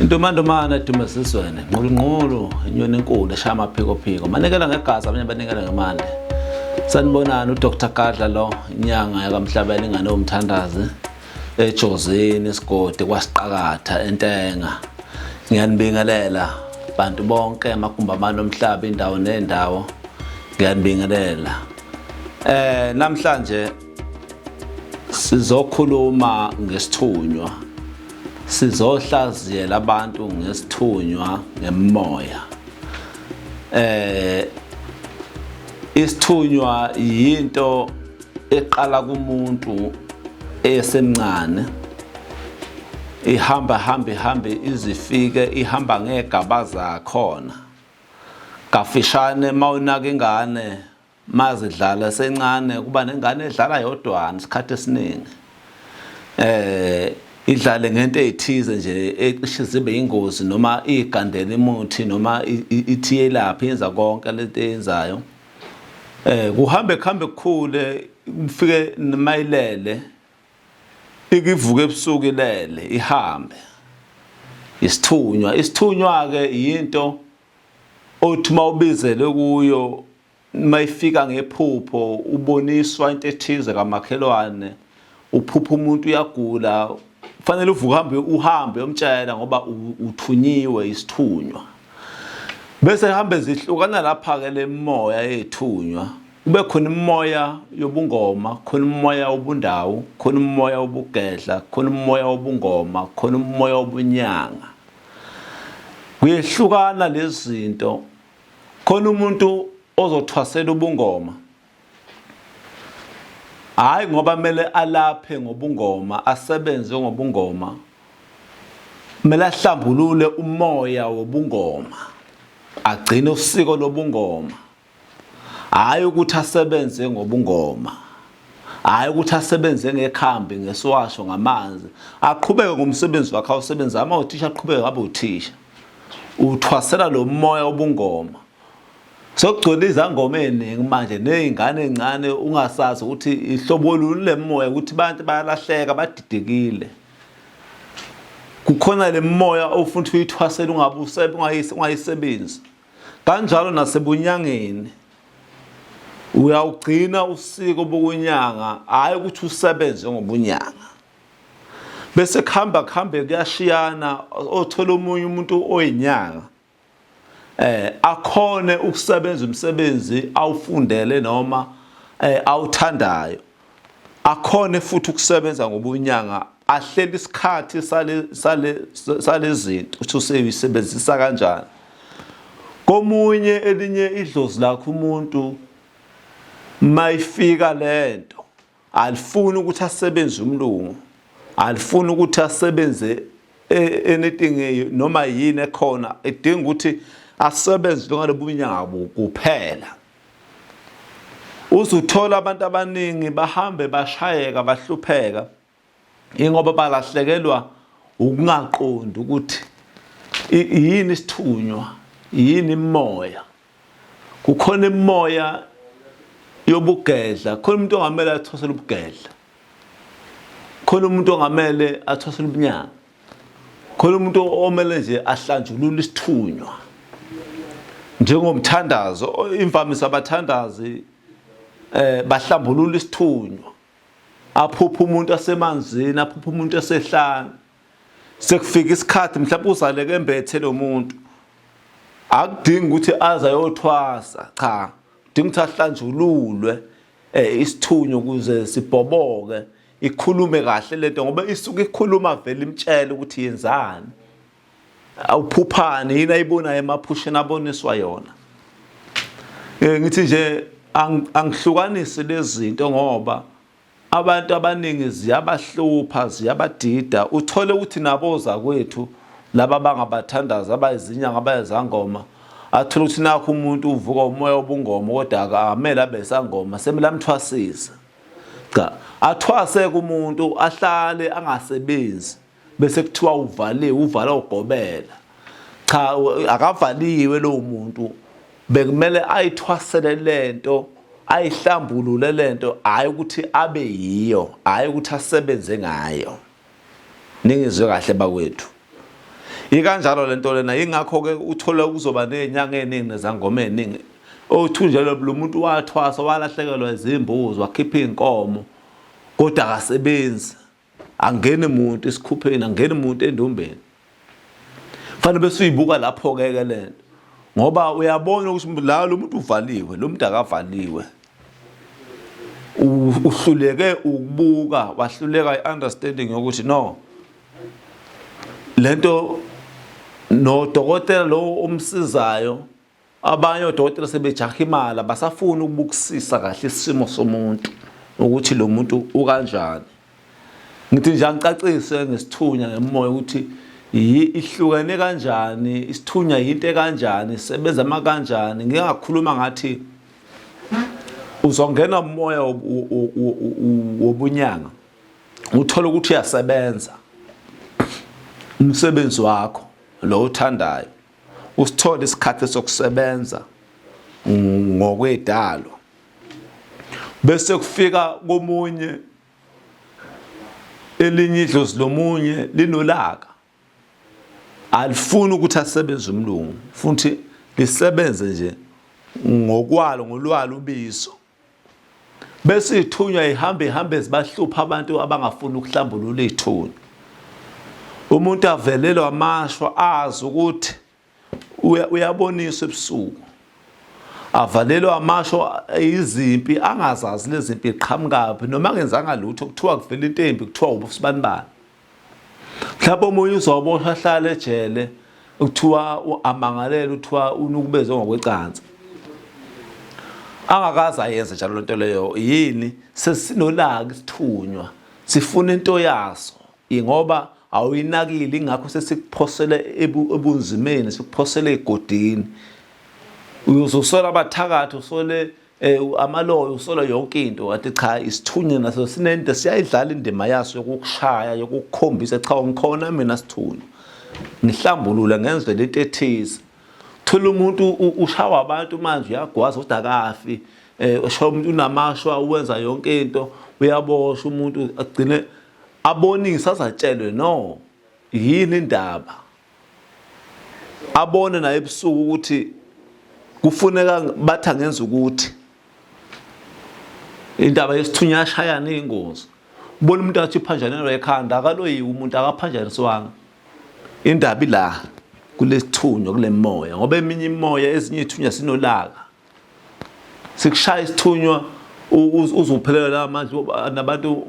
intomantomana edumesizweni nqulunqulu inyoni enkulu eshaya amaphekophiko manikela ngegazi abanye banikela ngemali sanibonani udr gadla lo inyanga yakamhlabela ingane yomthandazi ejozini esigodi kwasiqakatha entenga ngiyanibingelela bantu bonke amagumbi abantu omhlaba indawo nendawo ngiyanibingelela eh namhlanje Sizokhuluma ngesithunywa. Sizohlaziyela abantu ngesithunywa ngemoya. Eh isithunywa yinto eqala kumuntu esemncane ihamba hambe hambe izifike ihamba ngegaba zakhona kafishane mawunaka ingane mazidlala sencane kuba nengane edlala yodwana isikhathi esiningi eh idlale ngento ezithize nje ecishe zibe ingozi noma igandela imuthi noma ithiye lapha yenza konke lento eyenzayo eh kuhambe kuhambe kukhule kufike mayilele ikivuka ebusuku ilele ihambe isithunywa isithunywa ke yinto othi uma ubizelwe kuyo uma ifika ngephupho uboniswa into ethize kamakhelwane uphupha umuntu uyagula kufanele uvuke uhambe uhambe umtshela ngoba uthunyiwe isithunywa bese hambe zihlukana lapha ke lemoya ethunywa kube khona umoya yobungoma khona umoya wobundawo khona umoya wobugedla khona umoya wobungoma khona umoya wobunyanga kuyehlukana lezinto khona umuntu ozothwasela ubungoma hayi ngoba kumele alaphe ngobungoma asebenze ngobungoma kumele ahlambulule umoya wobungoma agcine usiko lobungoma hhayi ukuthi asebenze ngobungoma hhayi ukuthi asebenze ngekhambi ngesiwasho ngamanzi aqhubeke ngomsebenzi wakhe awusebenzi ama uthisha aqhubeke ngabe uthisha uthwasela lo moya obungoma sokugcwele izangoma eziningi manje nezingane ezincane ungasazi ukuthi ihlobo luni lemoya ukuthi abantu bayalahleka badidekile kukhona lemoya ofuna ukuthi uyithwasele ungabusebenzi ungayisebenzi kanjalo nasebunyangeni uyawugcina usiko bokunyanga hhayi ukuthi usebenze ngobunyanga bese kuhamba kuhambe kuyashiyana othola omunye umuntu oyinyanga eh akhone ukusebenza umsebenzi awufundele noma eh awuthandayo akhone futhi ukusebenza ngobunyanga ahlele isikhathi sale sale salezinto ukuthi usebenzisa kanjani komunye elinye idlozi lakho umuntu mayifika lento alifuni ukuthi asebenze umlungu alifuni ukuthi asebenze e, anything e, noma yini ekhona edinga ukuthi asebenze njengalobunyawo kuphela uzuthola abantu abaningi bahambe bashayeka bahlupheka ingoba balahlekelwa ukungaqondi ukuthi yini isithunywa yini imoya kukhona imoya yobugedla khona umuntu ongamele athosele ubugedla khona umuntu ongamele athosele ubunyanga khona umuntu omele nje ahlanjulule isithunywa njengomthandazo imvamisa abathandazi eh bahlambulula isithunywa aphupha umuntu asemanzini aphupha umuntu esehlana sekufika isikhathi mhlawumbe uzaleke embethe lo muntu akudingi ukuthi aze ayothwasa cha udinga ukuthi ahlanjululwe eh isithunywa ukuze sibhoboke ikhulume kahle lento ngoba isuke ikhuluma vele imtshela ukuthi yenzani awuphuphani yini ayibonayo emaphusheni aboniswa yona eh ngithi nje angihlukanisi lezinto ngoba abantu abaningi ziyabahlupha ziyabadida uthole ukuthi naboza kwethu laba bangabathandazi abayizinyanga abayezangoma athole ukuthi nakho umuntu uvuka umoya obungoma kodwa akamele abe sangoma semele amthwasise Cha, athwase kumuntu ahlale angasebenzi bese kuthiwa uvaliwe, uvala ugobela. Cha, akavaliwe lowo muntu. Bekumele ayithwasele lento, ayihlambulule lento, hayi ukuthi abe yiyo, hayi ukuthi asebenze ngayo. Ningizwe kahle bakwethu. Ikanjalo lento lena ingakho ke uthola kuzoba nezinyanga eziningi nezangoma eziningi. Othunjelwe lo muntu wathwasa walahlekelwa izimbuzi wakhipha izinkomo kodwa akasebenzi. Angeni muntu isikhupheni, angeni muntu endumbeni. Fanele bese uyibuka lapho ke ke lento. Ngoba uyabona ukuthi la lo muntu uvaliwe, lo muntu akavaliwe. Uhluleke ukubuka, wahluleka i-understanding yokuthi no lento nodokotela lowo omsizayo Abanye odokotela sebejaha imali abasafuni ukubukisisa kahle isimo somuntu ukuthi lo muntu ukanjani. Ngithi nje angicacise ngesithunya ngemoya ukuthi ihlukene kanjani, isithunya yinto ekanjani, isebenza ama kanjani. Ngike ngakhuluma ngathi uzongena umoya wobunyanga uthole ukuthi uyasebenza umsebenzi wakho lo uthandayo usithole isikhathi sokusebenza ngokwedalo bese kufika komunye elinye idlozi lomunye linolaka alifuni ukuthi asebenze umlungu futhi lisebenze nje ngokwalo ngolwalo ubizo bese ithunywa ihambe ihambe zibahlupha abantu abangafuni ukuhlambulula ithuna umuntu avelelwa amashwa azi ukuthi uyaboniswa ebusuku avalelwa amasho izimpi angazazi lezimpi qhamukaphi noma ngenzanga lutho kuthiwa kuvela into embi kuthiwa ubusibanibani mhlawumbe omunye uzoboshwa ahlale ejele kuthiwa amangalele uthiwa unukubeze ngokwecansi angakaze ayenze njalo lento leyo yini sesinolaka isithunywa sifuna into yaso ingoba awuyinakile ingakho sesikuphosele ebunzimeni sikuphosele egodini uyozosola abathakathi usole Eh amaloyo usola yonke into wathi cha isithunywa naso sinento siyayidlala indima yaso yokukushaya yokukukhombisa cha ngikhona mina sithunywa. Ngihlambulula ngenze lento ethize. Thola umuntu ushawa abantu manje uyagwaza ukuthi akafi. Eh ushawa umuntu unamashwa uwenza yonke into uyaboshwa umuntu agcine abonise azatshelwe no yini indaba abone naye ebusuku ukuthi kufuneka bathi angenza ukuthi indaba yesithunya yashayana iyingozi ubona umuntu athi uphanjanelwa ekhanda akaloyiwe umuntu akaphanjaniswanga indaba ila kulesithunywa kule moya ngoba eminye imoya ezinye ithunya sinolaka sikushaya isithunywa uzophelela la manje nabantu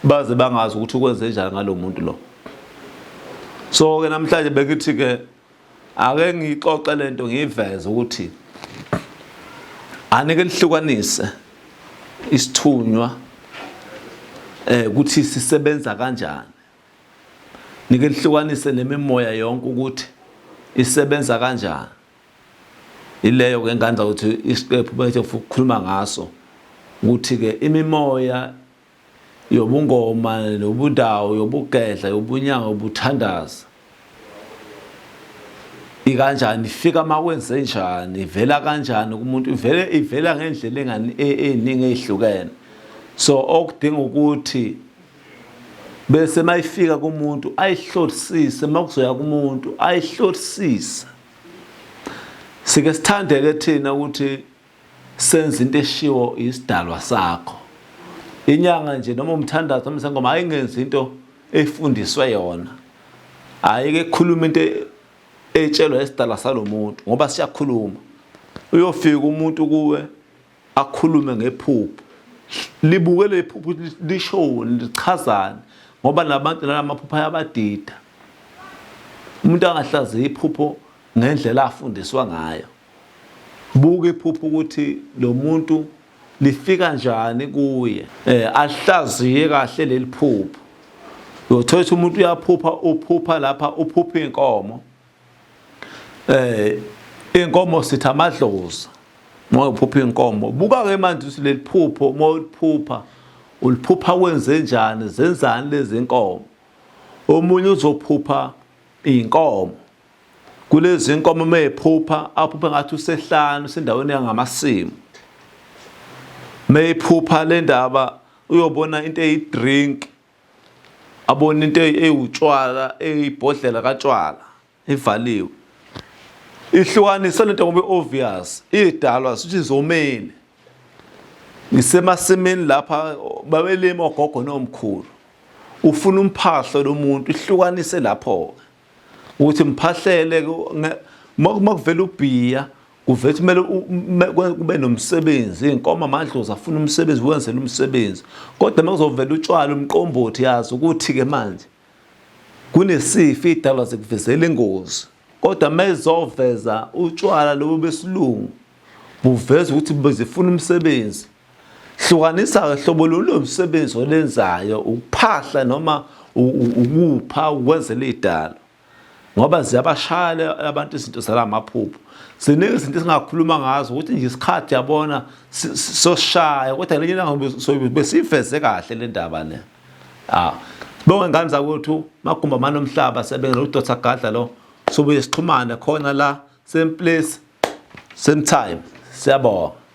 baze bangazi ukuthi ukwenze njani ngalomuntu lo so ke namhlanje bengithi ke ake ngixoxe lento ngiveze ukuthi anike lihlukanise isithunywa eh ukuthi sisebenza kanjani nike lihlukanise nemimoya yonke ukuthi isebenza kanjani Ileyo-ke enganza ukuthi isiqephu bethe ukukhuluma ngaso ukuthi-ke imimoya yobungoma nobudawu yobugedla yobunyanga yobuthandaza ikanjani ifika makwenze njani ivela kanjani kumuntu ivele ivela ngendlela engani e, eningi ezihlukene so okudinga ukuthi bese mayifika kumuntu ayihlolisise makuzoya kumuntu ayihlolisise Sike sithande ke thina ukuthi senze into eshiwo isidalwa sakho. Inyanga nje noma umthandazo noma sengoma ayingenzi into efundiswe yona. Ayike khuluma into etshelwa isidalwa salomuntu ngoba siyakhuluma. Uyofika umuntu kuwe akhulume ngephupho libuke leli phupho lishoni lichazani ngoba nabantu nalamaphupho ayabadida umuntu angahlaziya iphupho ngendlela afundiswa ngayo buka iphupho ukuthi lo muntu lifika njani kuye eh alihlaziye kahle leli phupho uyothola ukuthi umuntu uyaphupha uphupha lapha uphupha inkomo eh inkomo sitha amadlozi uma uphupha inkomo buka ke manje ukuthi leli phupho uma uliphupha uliphupha wenze njani zenzani lezi nkomo omunye uzophupha iy'nkomo kulezi nkomo uma ephupha aphuphe ngathi usehlanu sendaweni yangamasimu uma ephupha le ndaba uyobona into eyi-drink abona into ewutshwala eyibhodlela katshwala ivaliwe ihlukanise lento ngoba obvious idalwa sithi zomile ngisemasimini lapha babelima ogogo nomkhulu ufuna umphahlo lomuntu ihlukanise lapho ke ukuthi ngiphahlele makuvela ubhiya kuvele kumele kube nomsebenzi iy'nkomo amadlozi afuna umsebenzi wenzela umsebenzi kodwa uma kuzovela utshwala umqombothi yazi ukuthi-ke manje kunesifo iy'dalwa zikuvezela ingozi kodwa uma izoveza utshwala lobo besilungu Buveza ukuthi bezifuna umsebenzi. Hlukanisa-ke hlobo lolo msebenzi olenzayo, ukuphahla noma ukupha ukwenzela idalo. Ngoba ziyabashaya abantu izinto zalamaphupho. Ziningi izinto esingakhuluma ngazo ukuthi nje isikhathi yabona soshaya kodwa lenye ilanga besiveze kahle le ndaba le. Ah. Bonke ngane zakwethu magumba manomhlaba sebengela udotha gadla lo Sobuye sixhumane khona la same place same time. Siyabonga.